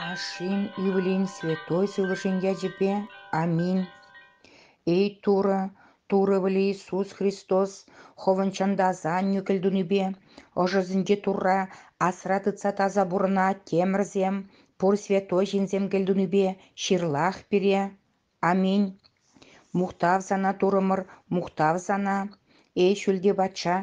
Ашшӗн ывӑлӗн святой сывлӑшӗн ячӗпе аминь. Эй Турӑ, Турӑ вӗле Иисус Христос хӑвӑн чӑнтаса аннӳ кӗлтунипе ӑшӑсенче Турра асра тытса таса пурӑна темӗрсем, пур святой ҫынсем кӗлтунипе ҫырлах пире. Аминь. Мухтав сана, Турӑмӑр, мухтав сана. Эй, ҫӳлти патша,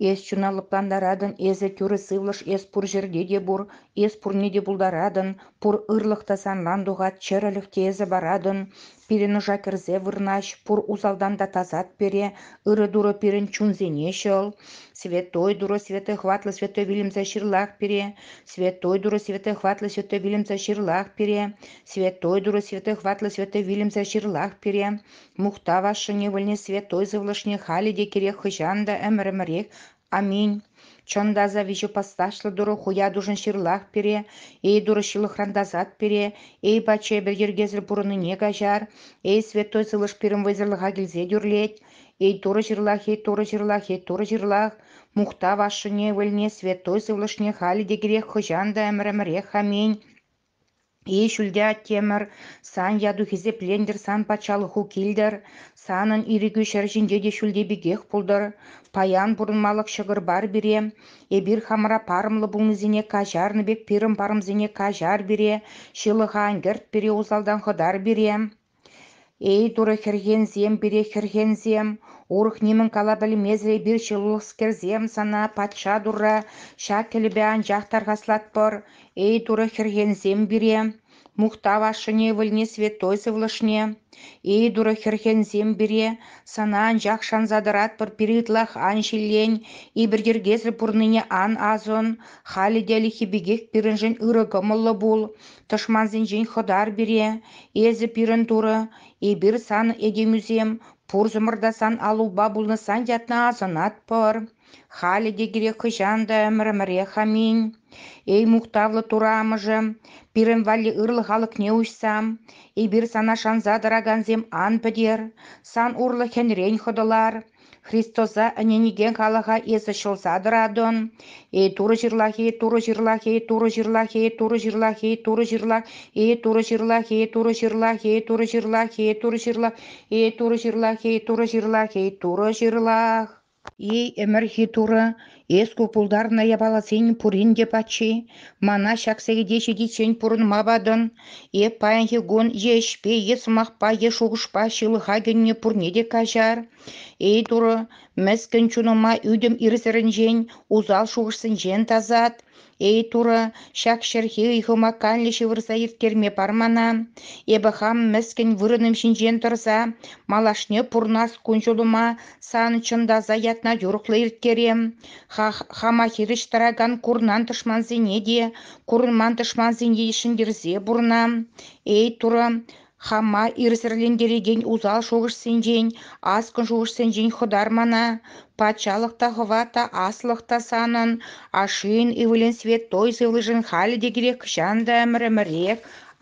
эс чуна лӑплантаратӑн, эсӗ тӳрӗ сывлӑш, эс пур ҫӗрте те пур, эс пурне те пултаратӑн, пур ырлӑх та санран тухать, чӗрӗлӗх те эсӗ паратӑн. Пирӗн ӑша кӗрсе вырнаҫ, пур усалтан та тасат пере, ырӑ Турӑ пирӗн чунсене ҫӑл. Святой Турӑ, Святой Хватлӑ, Святой вилӗмсӗр ҫырлах пире, Святой Турӑ, Святой Хватлӑ, Святой вилӗмсӗр ҫырлах пире, Святой Турӑ святой хӑватлӑ святой вилӗмсӗр ҫырлах пире, мухтав ашшӗне, вӗлне святой сывлӑшне халӗ те кирек хӑҫан та ӗмӗр-ӗмӗрех. Аминь. Чӑн та аса виҫӗ пасташлӑ Турӑ хуятушӑн ҫырлах пире, эй Турӑ ҫылӑхран тасат пире, эй Патша эпир йӗркесӗр пурӑннине каҫар, эй Святой Сывлӑш пирӗн вӑйсӑрлӑха килсе тӳрлет, эй Турӑ ҫырлах, эй Турӑ ҫырлах, эй Турӑ ҫырлах, мухтав ашшӗне, вӗлне, Святой Сывлӑшне халӗ те кирек хӑҫан та ӗмӗр-ӗмӗрех. Аминь. Эй, ҫӳлте Аттемӗр, сан яту-хисеплентӗр, сан патшалӑху килтӗр, санӑн ирӗкӳ ҫӗр ҫинче те ҫӳлти пекех пултӑр. Паян пурӑнмалӑх ҫӑкӑр бар пире, эпир хамӑра парӑмлӑ пулнисене каҫарнӑ пек пирӗн парӑмсене каҫар пире, ҫылӑха ӗнкӗрт пире усалтан хӑтар пире. Эй, Турӑ хӗрхенсем, пире хӗрхенсем, урӑх нимӗн кала пӗлмесӗр эпир ҫылӑхскерсем, сана патша Турра ҫак кӗлӗпе анчах тархаслатпӑр. Эй, Турӑ хӗрхенсем пире, мухтав ашшӗне, ывӑлне, святой сывлӑшне. Эй, Турӑ хӗрхенсем пире, сана анчах шанса тӑратпӑр пире ытлах ан ҫиллен, иберйӗркесӗр пурӑннине ан асӑн, халӗ те ӗлӗкхи пекех пирӗншӗн ырӑ кӑмӑллӑ пул. Тӑшмансенчен хӑтар пире, эсӗ пирӗн турӑ, эпир сан этемӳсем, пурсӑмӑр та сан аллупа пулнӑсан ятна асӑнатпӑр. Халӗ те кирек хӑҫан та ӗмӗр-ӗмӗрех аминь. Эй мухтавлӑ Турӑ Амӑшӗ, пирӗн валли ырлӑх алӑкне уҫса, эпир сана шанса тӑракансем ан пӗтер, сан урлӑ хӗнрен хӑтӑлар, Христоса ӗненекен халӑха эсӗ ҫӑлса тӑратӑн. Эй Турӑ ҫырлахи, Турӑ ҫырлахи, Турӑ ҫырлахи, Турӑ ҫырлахи, Турӑ ҫырлах, Эй Турӑ ҫырлахи, Турӑ ҫырлахи, Турӑ ҫырлахи, Турӑ ҫырлах, Эй Турӑ ҫырлахи, Турӑ ҫырлахи, Турӑ ҫырлах. Эй ӗмӗрхи Турӑ, Эс ку пултарнӑ япаласен пурин те паччи. Мана ҫак сехете ҫитиччен пурӑнма патӑн. Эп паянхи кун е ӗҫпе, е сӑмахпа, е шухӑшпа ҫылӑха кӗнӗ пурне те каҫар. Эй, Турӑ, мӗскӗн чунӑма ӳтӗм ирсӗрӗнчен, усал шухӑшсенчен тасат. Эй, Турӑ, ҫак ҫӗрхи ыйхӑма каллӗ ҫывӑрса ирттерме пар мана. Эпӗ хам мӗскӗн вырӑнӑм ҫинчен тӑрса малашне пурнас кун-ҫулӑма сан чӑнтаса ятна юрӑхлӑ ирттерем. хама хирӗҫ тӑракан курнан тӑшмансене те, курман тӑшмансене те ҫӗнтерсе пурӑнам. Эй, Турӑ, Хама ирсӗрлентерекен усал шухӑшсенчен, аскӑн шухӑшсенчен хӑтармана, патшалӑх та хӑва та аслӑх та санӑн, ашшӗн ывӑлӗн святой сывлӑшӗн халӗ те кирек хӑҫан та ӗмӗр-ӗмӗрех.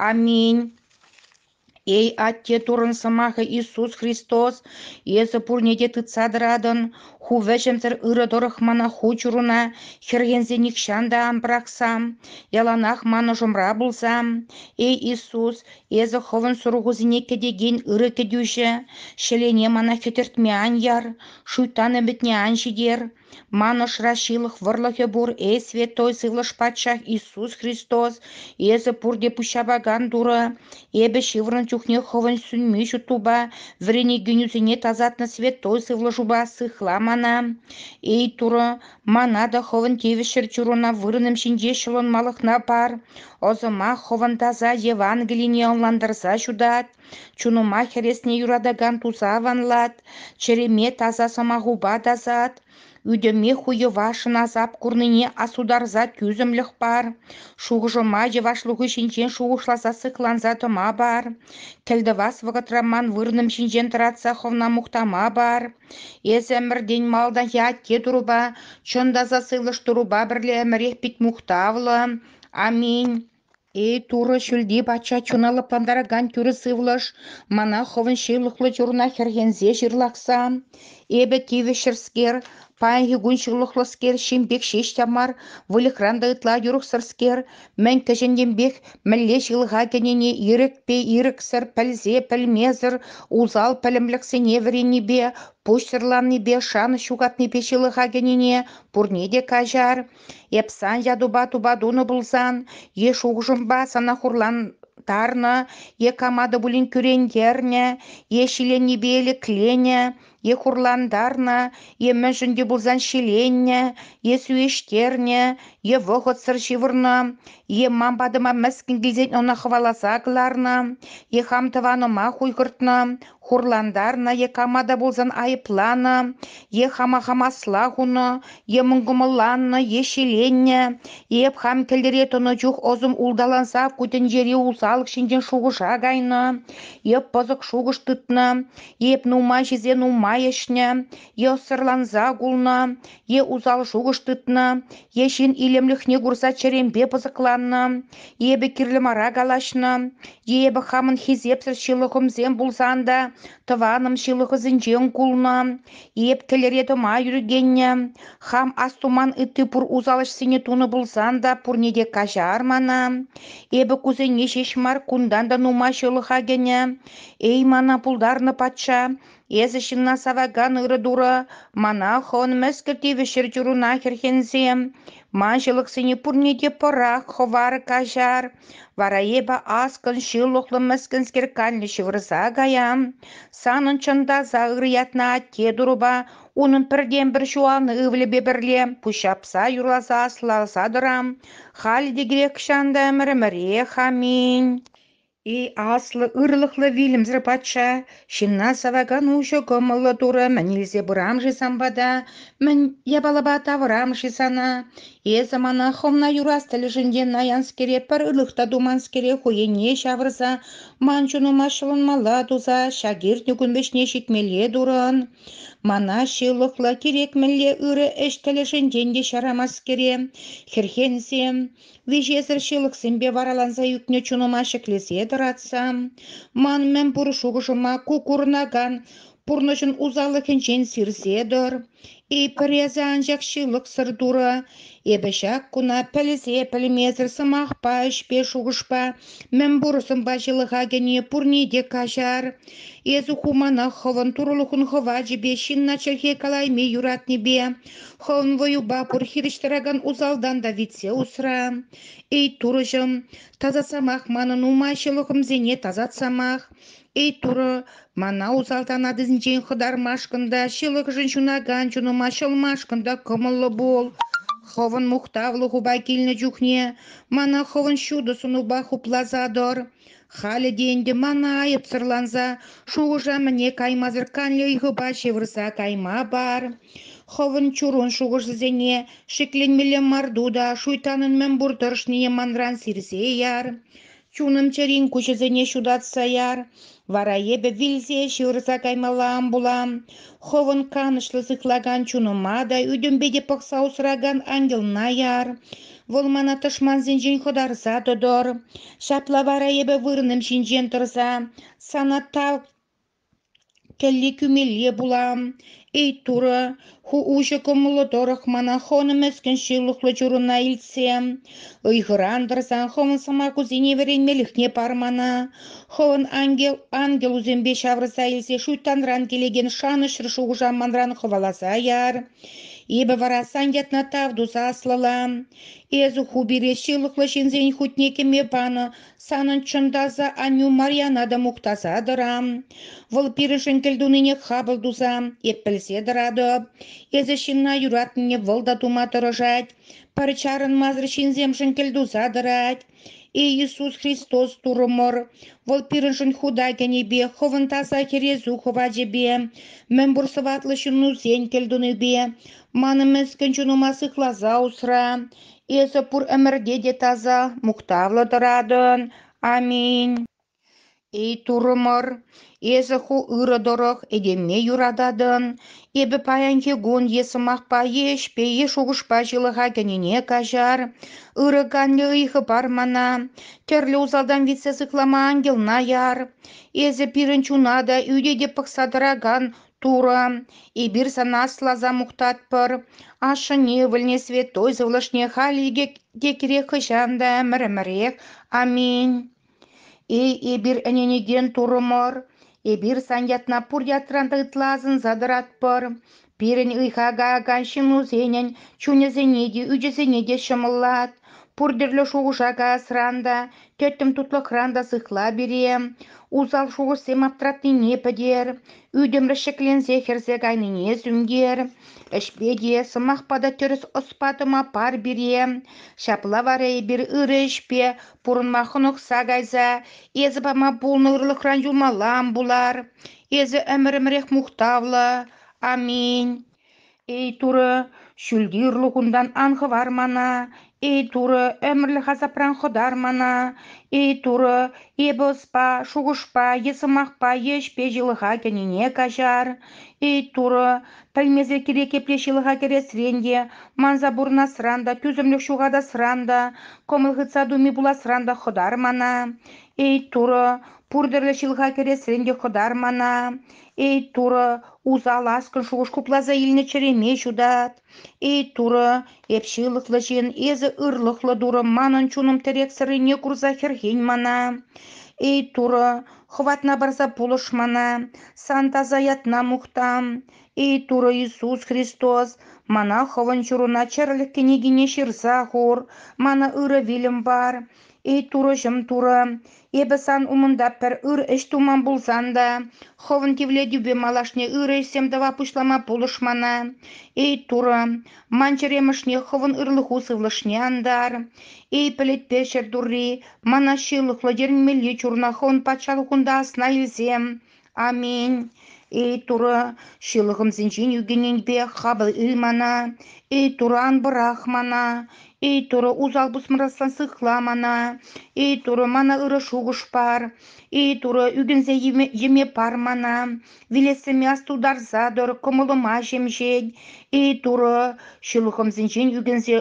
Аминь. Эй, Атте Туррӑн Сӑмахӗ Иисус Христос, эсӗ пурне те тытса тӑратӑн. Ху вӗҫӗмсӗр ырӑ тӑрӑх мана ху чуруна хӗрхенсе нихҫан та ан пӑрахсам, яланах манӑшӑмра пулсам. Эй, Иисус, Эсӗ хӑвӑн сурӑхусене кӗтекен ырӑ кӗтӳҫӗ, ҫӗлене мана хӗтӗртме ан яр, шуйттан ӗмӗтне ан ҫитер. Ман ӑшра ҫылӑх вӑрлӑхӗ пур, эй Святой Сывлӑш Патшах Иисус Христос, эсӗ пурте пуҫҫапакан Турӑ. Эпӗ ҫывӑрнӑ чухне хӑвӑн сӳнми ҫуттупа, вӗренекенӳсене тасатнӑ Святой Сывлӑшупа сыхла мана. Эй Турӑ, Мана та хӑвӑн тивӗҫ чӗрчунуна вырӑнӑм ҫинче ҫӑлӑнмалӑхна пар, ӑсӑмах хӑвӑн таса Евангелине ӑнлантарса ҫутат, чунӑма хӗресне юратакан туса аванлат, чӗреме таса сӑмахупа тасат, ӳтӗме хуйӑва шӑнасап курнине асутарса тӳсӗмлӗх пар, шухӑшӑма йӑвашлӑху ҫинчен шухӑшласа сыхланса тӑма пар, кӗлтӑвас вӑхӑтра ман вырӑнӑм ҫинчен тӑратса хӑвна мухтама пар, Эсӗ ӗмӗртен малтанхи атте турӑпа, чӑн та сасӑлӑш турӑпа пӗрле ӗмӗрех пит мухтавлӑ, аминь. Эй, Турӑ ҫӳлти Патша чуна лӑплантаракан тӳрӗ сывлӑш, мана хӑвӑн ҫывлӑхлӑ чуруна хӗрхенсе ҫырлахса, эпӗ тивӗҫҫӗрскер, паянхи кун ҫывлӑхлӑскер, ҫын пек ҫеҫ те мар, выльӑхран та ытла юрӑхсӑрскер, Мӗн кӗҫӗннинпех мӗнле ҫылӑха кӗнине ирӗкпе ирӗксӗр пӗлсе пӗлмесӗр усал пӗлӗмлӗхсене вӗреннипе, пуҫсӑрланнипе, шанӑҫ ҫухатнипе ҫылӑха кӗнине пурне те каҫар. Эп сан ятупа тупа тунӑ пулсан, е шухӑшӑмпа сана хурлантарнӑ, е кама та пулин кӳрентернӗ, е ҫиленнипе лекленӗ, е хурлантарнӑ, е мӗншӗн те пулсан ҫиленнӗ, е сӳеҫтернӗ, е вӑхӑтсӑр ҫывӑрнӑ, е ман патӑма мӗскӗн килсен ӑна хӑваласа кӑларнӑ, е хам тӑванӑма хуйхӑртнӑ, хурлантарнӑ, е кама та пулсан айӑпланӑ, е хама хам асла хунӑ, е мӑнкӑмӑлланнӑ, е ҫиленнӗ, е эп хам кӗлтӗре тӑнӑ чух ӑсӑм улталанса ку тӗнчери усалӑх ҫинчен шухӑша кайнӑ, е пӑсӑк шухӑш тытнӑ, Эп нумай-ҫисен нумай ӗҫнӗ, е ӑссӑрланса кулнӑ, е усал шухӑш тытнӑ, е ҫын илемлӗхне курса чӗремпе пӑсӑкланнӑ, эпӗ кирлӗ мара калаҫнӑ, е эпӗ хамӑн хисепсӗр ҫылӑхӑмсем пулсан та тӑванӑм ҫылӑхӑсенчен кулнӑ, эп кӗлӗре тӑма ҫӳрекеннӗ, хам астуман ытти пур усал ӗҫсене тунӑ пулсан та пурне те каҫар мана, эпӗ кусене ҫеҫ мар, кунтан та нумай ҫылӑха кӗнӗ, Эй, мана пултарнӑ патша, эсӗ ҫынна савакан ырӑ турӑ, мана хӑвӑн мӗскӗл тивӗҫрӗ чуруна хӗрхенсем. Ман ҫылӑхсене пурне те пӑрах, хӑвар, каҫар. Вара эпӗ аскӑн ҫылӑхлӑ мӗскӗнскер канлӗ ҫывӑрса каям. Санӑн чӑнтаса ырӑ ятна атте турӑпа, унӑн пӗртен-пӗр ҫуанӑ ывӑлӗпе пӗрле пуҫҫапса юрласа аслаласа тӑрам. Халӗ те кирек ҫан та ӗмӗрӗмӗрех аминь. И аслӑ ырлӑхлӑ вилӗмсӗр патша, ҫынна савакан уҫӑ кӑмӑллӑ турӑ мӗн илсе пырам-ши сан пата, мӗн япалапа тавӑрам-ши сана? Эсӗ мана хӑвна юрас тӗлӗшӗнчен наянскере пӗр ылӑх та туманскере хӑйӗне ҫавӑрса ман чунӑма ҫӑлӑнмалла туса ҫак иртнӗ кун вӗҫне ҫитмелле турӑн. Мана ҫылӑхлӑ, кирек мӗнле ырӑ ӗҫ тӗлӗшӗнчен те ҫарамаскере, хӗрхенсем, Виҫесӗр ҫылӑхсемпе вараланса ӳкнӗ чунӑма ҫӗклесе тӑратса, ман мӗнпур шухӑшӑма ку курӑнакан пурнӑҫӑн усаллӑхӗнчен сирсе тӑр. Эй, пӗр эсӗ анчах ҫылӑхсӑр Турӑ, эпӗ ҫак куна пӗлсе-пӗлмесӗр сӑмахпа, ӗҫпе, шухӑшпа, мӗнпур сӑнпа ҫылӑха кӗни пурне те каҫар. Эсӗ ху мана хӑвӑн Турӑлӑхӑн хӑвачӗпе, ҫынна чӗлхе калайми юратнипе, Хӑвӑн вӑюпа пур хирӗҫ тӑракан усалтан та витсе усра. Эй, Турӑҫӑм, тасатсамах манӑн ума ҫӑлӑхӑмсене тасатсамах. Эй, Турӑ, мана усалтан атисенчен хӑтармашкӑн та, ҫылӑхшӑн ҫунакан чунӑма ҫӑлмашкӑн та кӑмӑллӑ пул. Хӑвӑн мухтавлӑ хупа килнӗ чухне мана хӑвӑн ҫутӑ сунупа хупласа тӑр. Халӗ те ӗнтӗ мана айӑпсӑрланса шухӑша-мӗне каймасӑр канлӗ ыйхӑпа ҫывӑрса кайма пар. Хӑвӑн чурун шухӑшӗсене шикленмелле марту та шуйттанӑн мӗн пур тӑрӑшнине манран сирсе яр. Чунӑм чӗрин куҫӗсене ҫутатса яр. Вара эпӗ вилсе ҫывӑрса каймалла ан пулам. Хӑвӑн канӑҫлӑ сыхлакан чунӑма та, ӳтӗмпе те пӑхса усракан ангелна яр. Вӑл мана тӑшмансенчен хӑтарса тӑтӑр. Ҫапла вара эпӗ вырӑнӑм ҫинчен тӑрса сана тав кӗлли кӳмелле пулам. Эй, Турӑ, ху уҫӑ кӑмӑллӑ тӑрӑх мана хӑнӑ мӗскӗн ҫылӑхлӑ чурӑна илтсе, ыйхӑран тӑрсан хӑвӑн сӑмахусене вӗренмелӗхне пар мана. Хӑвӑн ангел ангелусемпе ҫавӑрса илсе шуйттанран килекен шанӑҫсӑр шухӑша манран хӑваласа яр. Эпӗ вара сан ятна тав туса аслӑлам. Эсӗ ху пире ҫылӑхлӑ ҫынсен хутне кӗме панӑ санӑн чӑн таса аннӳ Марьяна та мухтаса тӑрам. Вӑл пирӗншӗн кӗлтунине хапӑл туса эп пӗлсе тӑратӑп. Эсӗ ҫынна юратнине вӑл та тума тӑрӑшать. Пӗр чарӑнмасӑр ҫынсемшӗн кӗлтуса тӑрать. Эй Иисус Христос Турӑмӑр, Вӑл пирӗншӗн худа кӗнипе, Хӑвӑн таса Хӗресу хӑвачӗпе, мӗнпур сӑваплӑ ҫыннусен кӗлтунипе, манӑн мӗскӗн чунӑма сыхласа усра. Эсӗ пур ӗмӗрте те таса, мухтавлӑ тӑратӑн. Аминь. Эй, турӑмӑр, эсӗ ху ырӑ тӑрӑх этемне юрататӑн, эпӗ паянхи кун е сӑмахпа, е ӗҫпе, е шухӑшпа ҫылӑха кӗнине каҫар. Ырӑ канлӗ ыйхӑ пар мана, тӗрлӗ усалтан витсе сыхлама ангелна яр. Эсӗ пирӗн чуна та, ӳте те пӑхса тӑракан Турӑ, эпир сана асласа мухтатпӑр. Ашшӗн ывӑлне святой сывлӑшне халь икӗ те кирек хӑҫан та ӗмӗр-ӗмӗрех. Аминь. Эй, эпир ӗненекен турӑмӑр, эпир сан ятна пур ятран та ытла асӑнса тӑратпӑр. Пирӗн ыйха каякан ҫыннусенӗн чунӗсене те, ӳчӗсене те ҫӑмӑллат. Пур тӗрлӗ шухӑша каясран та, тӗттӗм тутлӑхран та сыхла пире. Усал шухӑшсем аптратнине пӗтер, ӳтӗмлӗх ҫӗкленсе хӗрсе кайнине сӳнтер. Ӗҫпе те, сӑмахпа та тӗрӗс ӑспа тӑма пар пире. Ҫапла вара эпир ырӑ ӗҫпе Пурӑнма хӑнӑхса кайса эсӗ пама пулнӑ ырлӑхран юлмаллам пулар. Эсӗ ӗмӗр-ӗмӗрех мухтавлӑ. Аминь. Эй Турӑ, ҫӳлти ырлӑхунтан ан хӑвар мана. Эй Турӑ, ӗмӗрлӗх асапран хӑтар мана. Эй Турӑ, эпӗ ӑспа, шухӑшпа е сӑмахпа е ӗҫпе ҫылӑха кӗнине каҫар. Эй Турӑ, Пӗлмесӗр кирек епле ҫылӑха кӗресрен те, манса пурӑнасран та, тӳсӗмлӗх ҫухатасран та, кӑмӑл хытса туми пуласран та хӑтар мана. Эй, Турӑ, пур тӗрлӗ ҫылӑха кӗресрен те хӑтар мана. Эй, Турӑ, усал аскӑн шухӑш хупласа илнӗ чӗреме ҫутат. Эй, Турӑ, эп ҫылӑхлӑ ҫын, эсӗ ырлӑхлӑ Турӑ, манӑн чунӑм тӗрексӗррине курса хӗрхен мана. Эй, Турӑ, Хӑватна парса пулӑш мана, сан таса ятна мухтам. Эй, Турӑ Иисус Христос, мана Хӑвӑн ҫуруна чӗрӗлӗх кӗнекине ҫырса хур, мана ырӑ вилӗм пар. Эй, Турӑҫӑм Турӑ, эпӗ сан умӑнта пӗр ыр ӗҫ туман пулсан та, Хӑвӑн тивлетӳпе малашне ырӑ ӗҫсем тӑва пуҫлама пулӑш мана. Эй, Турӑ, Ман чӗремӗшне хӑвӑн ырлӑху сывлӑшне антар. Эй, пӗлӗтпе ҫӗр турри, мана ҫылӑхлӑ тӗлӗнмелли чурна хӑвӑн патшалӑхунта асна илсем. Аминь. Эй, Турӑ, ҫылӑхӑмсенчен ӳкӗннӗнпе хапӑл ил мана. Эй, Турӑ, ан пӑрах мана. Эй, Турӑ, усал пусмӑрассан сыхла мана. Эй, Турӑ, мана ырӑ шухӑш пар. Эй, Турӑ, ӳкӗнсе йӗме, йӗме пар мана. Вилессӗме астутарса тӑр кӑмӑлӑма ҫемҫен, Эй-Турӑ, ҫылӑхӑмсенчен ӳкӗнсе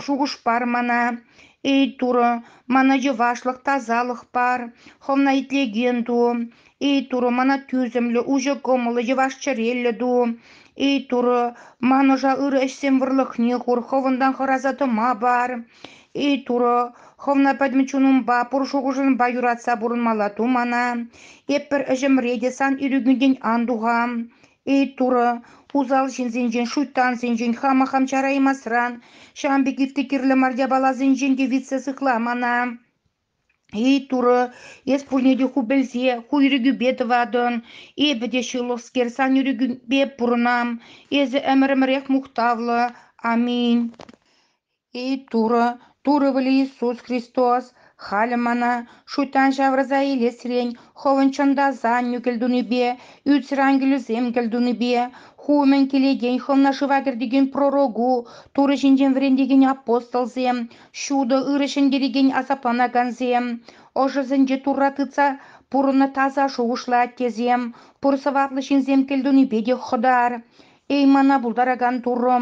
шухӑш пар мана. Эй-Турӑ, мана йӑвашлӑх, тасалӑх пар, хӑвна итлекен ту. Эй-Турӑ, мана тӳсӗмлӗ, уҫӑ кӑмӑллӑ, йӑваш чӗреллӗ ту. Эй-Турӑ, ман ӑша ырӑ ӗҫсен вӑрлӑхне хур, хӑвӑнтан хӑраса тӑма пар. И Турӑ, хӑвна пӗтӗм чунӑмпа, пур шухӑшӑмпа юратса пурӑнмалла ту мана. Эпир ӗҫӗмре те сан ирӗкӳнтен ан туха. И Турӑ, усал ҫынсенчен, шуйттансенчен хама хам чараймасран, ҫавӑн пек ытти кирлӗ мар япаласенчен те витсе сыхла мана. И Турӑ, эс пурне те ху пӗлсе, ху ирӗкӳпе тӑватӑн. Эпӗ те ҫылӑхскер, сан ирӗкӳпе пурӑнам. Эсӗ ӗмӗрӗмӗрех мухтавлӑ. Аминь. И Турӑ, Турӑ вӗли Иисус Христос, халӗ мана шуйттан ҫавӑрса илесрен Хӑвӑн чӑнтасан нӳкӗлтунипе, ӳтсӗр ангелӗсем кӗлтунипе, ху умӗн килекен Хӑвна шыва кӗртекен пророку, Турӑ ҫинчен вӗрентекен апостолсем, ҫутӑ ырӑ ҫӗнтерекен асапланакансем, ӑшӑсенче Турра тытса пурӑннӑ таса шухӑшлӑ аттесем, пур сӑваплӑ ҫынсем кӗлтунипе те хӑтар. Эй, мана пултаракан Турӑ!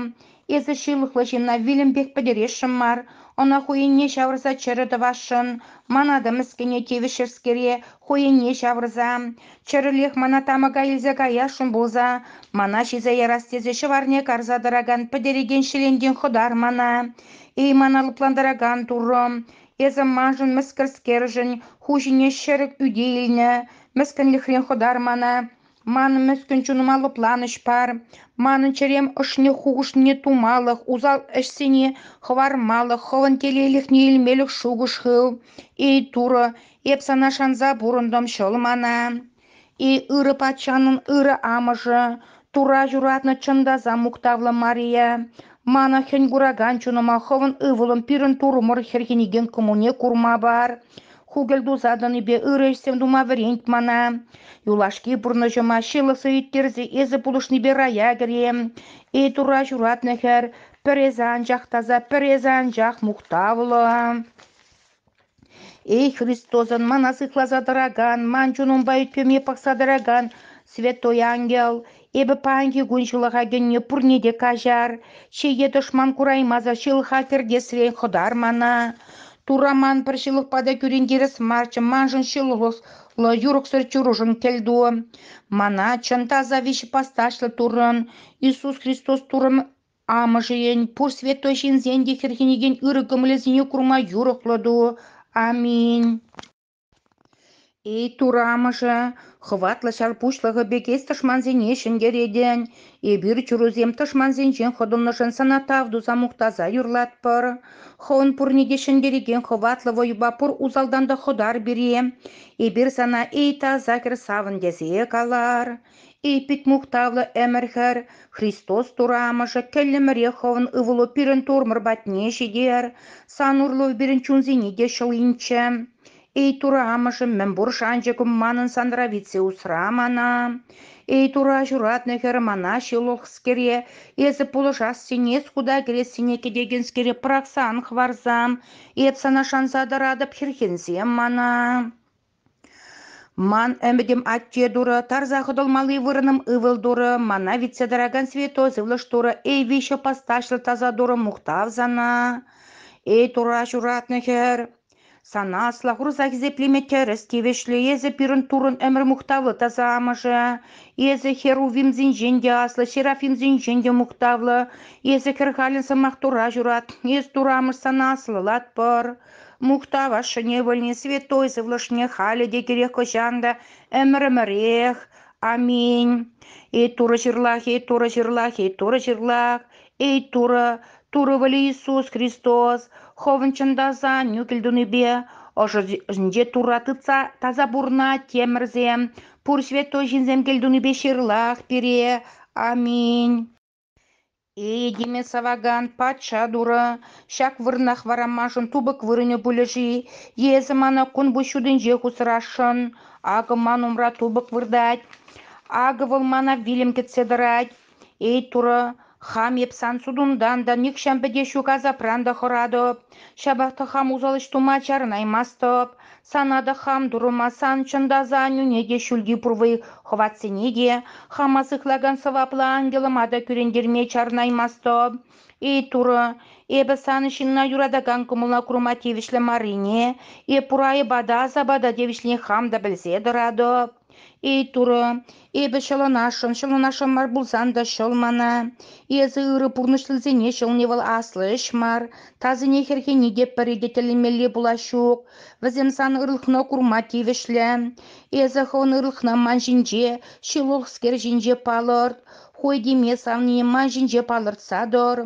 Эсӗ ҫылӑхлӑ ҫынна вилӗмпех пӗтересшӗн мар. Ӑна хӑйӗнне ҫавӑрса чӗрӗ тӑвасшӑн. Ман атӑ мӗскӗне тивӗҫҫӗскере хӑйӗнне ҫавӑрса, чӗрӗлех мана тамӑка илсе каясшӑн пулса, мана ҫисе ярас тесе ҫӑварне карса тӑракан пӗтерекен ҫӗлентен хӑтар мана. Эй, мана лӑплантаракан Турӑ! Эсӗ маншӑн мӗскӗрскершӗн ху ҫине ҫӗрӗк ӳте илнӗ, мӗскӗнлӗхрен хӑтар мана. Ман мӗскӗн чунӑма лӑпланӑҫ пар, манӑн чӗрем ӑшне хухӑшне тумалӑх, усал ӗҫсене хӑвармалӑх, хӑвӑн телейлӗхне илмелӗх шухӑш хыв. Эй, Турӑ, эп сана шанса пурӑнтӑм, ҫӑл мана. Эй, ырӑ патшанӑн ырӑ амӑшӗ, Тура ҫуратнӑ чӑн та мухтавлӑ Мария, мана хӗн куракан чунӑма хӑвӑн ывӑлӑм пирӗн турмӑр хӗрхенекен кӑмӑлне курма пар. Хукӑль-туса тӑнипе ырӑ ӗҫсем тума вӗрент мана. Юлашки пурнӑҫӑма ҫылӑхсӑр ирттерсе эсӗ пулӑшнипе рая кӗрем. Эй Турра ҫуратнӑ хӗр, пӗр эсӗ анчах таса, пӗр эсӗ анчах мухтавлӑ. Эй Христосӑн мана сыхласа тӑракан, ман чунӑмпа ӳт-пӗвӗме пӑхса тӑракан Святой Ангел, Эпӗ паянхи кун ҫылӑха кӗнӗ пурне те каҫар, чее тӑшман кураймасӑр ҫылӑха кӗртесрен хӑтар мана. Турра ман пӗр ҫылӑхпа та кӳрентерес марччӗ, маншӑн ҫылӑхлӑ, юрӑхсӑр чурушӑн кӗлту. Мана чӑн таса виҫепосташлӑ Туррӑн, Иисус Христос Туррӑн Амӑшӗн, пур святой ҫынсен те хӗрхенекен ырӑ кӑмӑлӗсене курма юрӑхлӑ ту. Аминь. Эй турамӑшӗ, хӑватлӑ ҫар пуҫлӑхӗ пекех тӑшмансене ҫӗнтеретӗн, эпир чурусем тӑшмансенчен хӑтӑлнӑшӑн сана тав туса мухтаса юрлатпӑр. Хӑвӑн пурне те ҫӗнтерекен хӑватлӑ вӑйӑпа пур усалтан та хӑтар пире. Эпир сана эй таса кӗр савӑн тесе калар. И пит мухтавлӑ ӗмӗр-хӗр, Христос Турамӑшӗ кӗллӗмӗрех хӑвӑн ывӑлу пирӗн турмӑр патне ҫитер, сан урлӑ пирӗн чунсене те ҫӑл инчӗ. Эй Турамӑшӑм, мӗнпур шанчӑкӑм манӑн санра витсе усра мана. Эй Тура ҫуратнӑ хӗр мана ҫылӑхскере, эсӗ пулӑшассине, суда кӗрессине кӗтекенскере пӑрахсан хӑварсам, эп сана шанса тӑратӑп хӗрхенсем мана. Ман ӗмӗтӗм атте турӑ, тарса хӑтӑлмалли вырӑнӑм ывӑл турӑ, мана витсе тӑракан святой сывлӑш турӑ, эй виҫҫӗ постачлӑ таса турӑ, мухтав сана, эй Турра ҫуратнӑ хӗр. Сана асла хурса хисеплеме тӗрӗс тивӗҫлӗ. Эсӗ пирӗн Туррӑн ӗмӗр мухтавлӑ таса амӑшӗ. Эсӗ херувимсенчен те аслӑ, серафимсенчен те мухтавлӑ. Эсӗ хӗр халӗн сӑмах Турра ҫурат. Эс Турра амӑш сана аслӑлатпӑр. Мухтав ашшӗне вӗлни святой сывлӑшне халӗ те кирек хӑҫан та ӗмӗр-ӗмӗрех. Аминь. Эй Турӑ ҫырлах, эй Турӑ ҫырлах, эй Турӑ ҫырлах, эй Турӑ, Турӑ вӗле Иисус Христос, хӑвӑн чӑн та сан нӳкӗл тунипе ӑшӑ ӑшӗнче Турра тытса таса пурӑнать темӗрсем, пур святой ҫынсем кӗлтунипе ҫырлах пире. Аминь. Этеме савакан патша турӑ ҫак вырӑнах варамашӑн тупӑк вырӑнӗ пулӗ-ши эсӗ мана кун пуҫ ҫутинче хусрасшӑн? Акӑ ман умра тупӑк выртать. Акӑ вӑл мана вилӗм кӗтсе тӑрать. Эй, турӑ, хам эп сан сутунтан та нихҫан пӗтеҫҫӳ касапран та хӑратӑп. Ҫапах та хам усал ӗҫ тума чарӑнаймастӑп. Сана та хам турӑмасан, чӑн та, аса аннӳне те, ҫӳлти пурвӑй хӑватсене те, хама сыхлакан сӑваплӑ ангелӑма та кӳрентерме чарӑнаймастӑп. Эй, Турӑ, эпӗ сан ҫынна юратакан кӑмӑла курма тивӗҫлӗ маррине, эп пур айӑпа та, асапа та тивӗҫлине хам та пӗлсе тӑратӑп. Эй, Турӑ, эпӗ ҫӑлӑнасшӑн, ҫӑлӑнасшӑн мар пулсан та ҫӑл мана. Эсӗ ырӑ пурнӑҫлисене ҫӑлни вӑл аслӑ ӗҫ мар, тасине хӗрхени те пӗри те тӗллемелли пулас ҫук. Вӗсем сан ырлӑхна курма тивӗҫлӗ. Эсӗ хӑвӑн ырлӑхна ман ҫинче, ҫывӑхскер ҫинче палӑрт, хой теме савнине ман ҫинче палӑртса тӑр.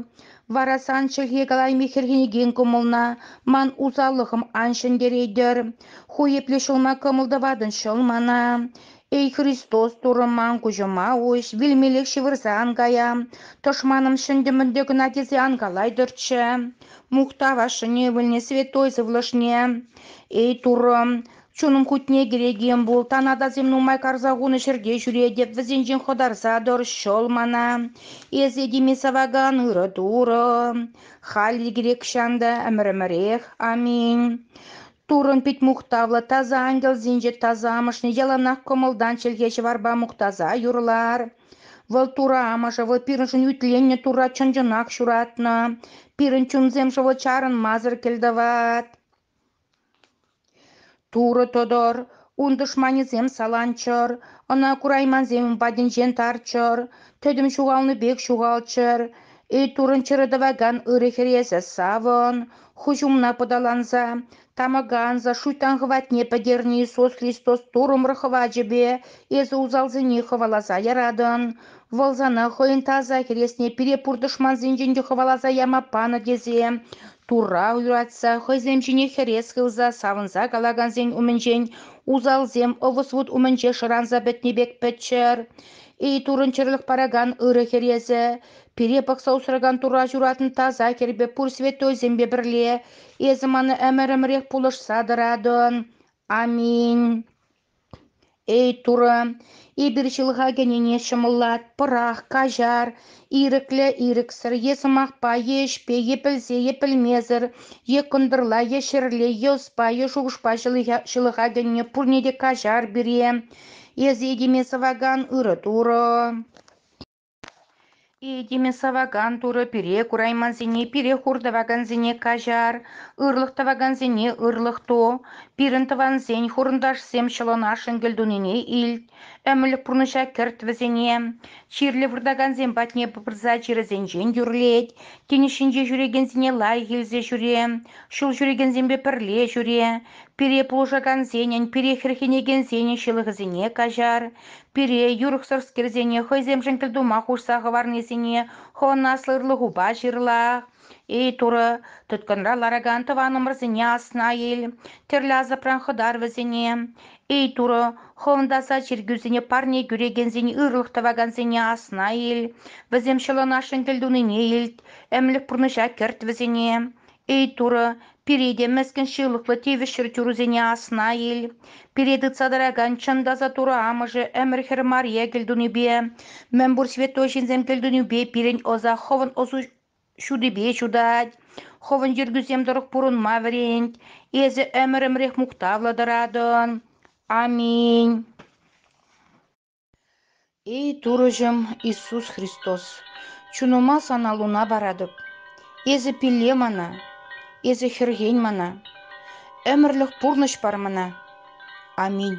Вара сан чӗлхе калайми хӗрхенекен кӑмӑлна ман усаллӑхӑм ан ҫӗнтеретӗр. Ху епле ҫӑлма кӑмӑл тӑватӑн, ҫӑл мана. Эй, Христос, Турӑ ман куҫӑма уҫ, вилмеллех ҫывӑрса ан кая. Тӑшманӑм ҫӗнтӗ-мӗнтӗ кӑна тесе ан калайтӑрччӗ. Мухтав ашшӗне, ывӑлне, святой сывлӑшне. Эй, Туррӑм, Чунӑм хутне кӗрекен пул, танатасем нумай карса хунӑ ҫӗрте ҫӳретӗп, вӗсенчен хӑтарса тӑр, ҫӑл мана. Эсӗ теме савакан ырӑ Турӑ, халь ирӗкрех ҫанта ӗмӗр-ӗмӗрех. Аминь. Туррӑн пит мухтавлӑ таса ангелсенче тасамӑшне яланах кӑмӑлтан чӗлхе ҫӑварпа мухтаса юрлар. Вӑл Турӑ Амӑшӗ, вӑл пирӗншӗн ӳтленнӗ Турра чӑн-чӑнах ҫуратнӑ. Пирӗн чунсем вӑл чарӑнмасӑр кӗлтӑват. Турӑ тӑтӑр, ун тӑшманӗсем саланччӑр, ӑна кураймансем ун патӗнчен тарччӑр, тӗтӗм ҫухалнӑ пек ҫухалччӑр, Эй-Турӑн чӗрӗ тӑвакан ырӑ Хӗресӗ, савӑн! Хӑҫ умна пӑталанса, тамӑка анса шуйттан хӑватне пӗтернӗ Иисус Христос турӑмӑр хӑвачӗпе Эсӗ усалсене хӑваласа яратӑн, Вӑл сана хӑйӗн таса хӗресне пире пур тӑшмансенчен те хӑваласа яма панӑ тесе Турра юратса, хӑйсем ҫине хӗрес хывса савӑнса калакансен умӗнчен усалсем ӑвӑс-вут умӗнче шӑранса пӗтнӗ пек пӗтчӗр. Эй турӑнчӑрлӑх паракан ырӑ хӗресӗ, пире пӑхса усракан Турра ҫуратнӑ таса хӗрпе пур святойсемпе пӗрле эсӗ мана ӗмӗрӗмӗрех пулӑшса тӑратӑн. Аминь. Эй, Турӑ, эпир ҫылӑха кӗнине ҫӑмӑллатпӑрах, каҫар, ирӗклӗ-ирӗксӗр е сӑмахпа е ӗҫпе е пӗлсе е пӗлмесӗр е кӑнтӑрла е ҫӗрле е ӑспа е шухӑшпа ҫылӑха кӗнине пурне те каҫар пире. Эсӗ этеме сӑвакан ырӑ Турӑ. Этеме савакан Турӑ пире кураймансене пире хур тӑвакансене каҫар, ырлӑх тӑвакансене ырлӑх ту, пирӗн тӑвансен, хурӑнташсем ҫӑлӑнашшӑн кӗлтунине илт, ӗмӗрлӗх пурнӑҫа кӗрт вӗсене. Чирлӗ выртакансем патне пырса чирӗсенчен тӳрлет, тинӗс ҫинче ҫӳрекенсене лайӑх илсе ҫӳре, ҫул ҫӳрекенсемпе пӗрле ҫӳре, пире пулӑшакансенӗн, пире хӗрхенекенсенӗн ҫылӑхӗсене каҫар, Пире юрӑхсӑрскерсене хӑйсемшӗн пӗр тума хушса хӑварнисене хӑвӑн аслӑ ырлӑхупа ҫырла. Эй, Турӑ, тыткӑнра ларакан тӑванӑмӑрсене асна ил, тӗрлӗ асапран хӑтар вӗсене. Эй, Турӑ, хӑвӑн таса чиркӳсене парне кӳрекенсен ырлӑх тӑвакансене асна ил, вӗсем ҫӑлӑнашшӑн кӗлтунине илт, ӗмлӗх пурнӑҫа кӗрт вӗсене. Эй, Турӑ, пире те мӗскӗн ҫылӑхлӑ тивӗҫ чӗрчунсене асна ил. Пире тытса тӑракан чӑн таса Турӑ Амӑшӗ ӗмӗр-хӗр мария кӗлтунипе, мӗнпур святой ҫынсем кӗлтунипе пирӗн ӑса хӑвӑн ӑсу ҫутипе ҫутать, хӑвӑн йӗркӳсем тӑрӑх пурӑнма вӗрент. Эсӗ ӗмӗрӗмрех мухтавлӑ тӑратӑн. Аминь. Эй, Турӑҫӑм Иисус Христос, чунӑма Сана луна паратӑп. Эсӗ пилле мана, Эсӗ хӗрхен мана, ӗмӗрлӗх пурнӑҫ пар мана. Аминь.